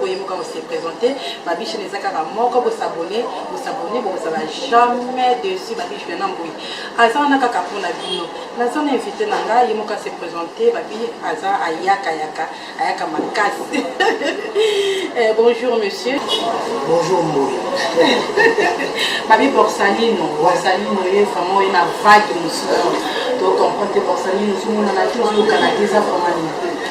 boye boka bose présente babi chaîne eza kaka moko bosabone bosabone bokozala jamais dessus babi juliana mboyi aza wana kaka mpo na bino naza na invité na ngai ye moko ase présente babi aza ayaka yaka ayaka makasi eh, bonjour monsieur bonjour mboyi babi borsalino borsalino ye vraiment ye na vague mosusu tocomprendre te borsalino ozomonana te ozokana te eza vraiment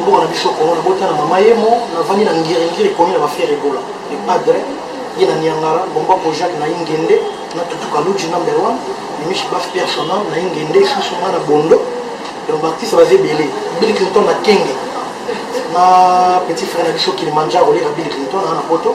mboka na biso Congo nabota na mama yemo navandi na ngiringiri komi na bafere ebola le padre ye na niangara bomba kojak na ingende na tutuka luji number one mimishi bas personnel na ingende isusu nga na bondo donc baartiste baza ebele bill clinton na kenge na petit frère na biso kilimanjaro oleka bill clinton na poto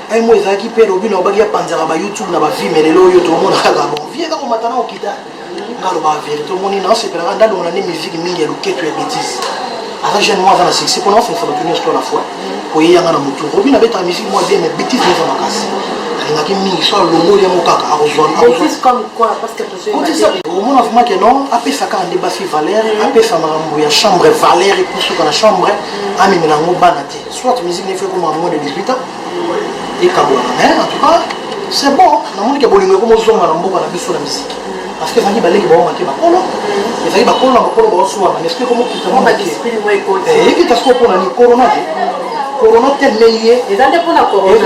un mois ezalaki mpe lobi nalobaki apanzaka ba youtube na bafilme lelo oyo tomona kaka bon vie eza komata na kokita nga alobaka verité omoni nasepelaka ndalongo na nde musique mingi ya loketo ya betise aza jeune moi aza na succès mpona osenisa bato nyonso to na foi koyeyanga na motu robi nabetaka musique moi bien mais betise eza makasi alingaki mingi so alongoli yango kaka akozwaomona vraimen ke non apesa kaka nde basi valeur apesa makambo ya chambre valeur ekusuka na chambre amemela yango bana te Soit musique n'est fait comme à moins de 18 ans et Kabouana. Mais en tout cas, c'est bon. Na moni ke bolingo comme ozonga na mboka na biso na musique. Parce que ezalaki baleki bango make bakolo ezalaki bakolo na bakolo baosuana esprit komo kita mwa make ekita soko mpo na ni corona te corona te ndenge ye eza nde mpo na corona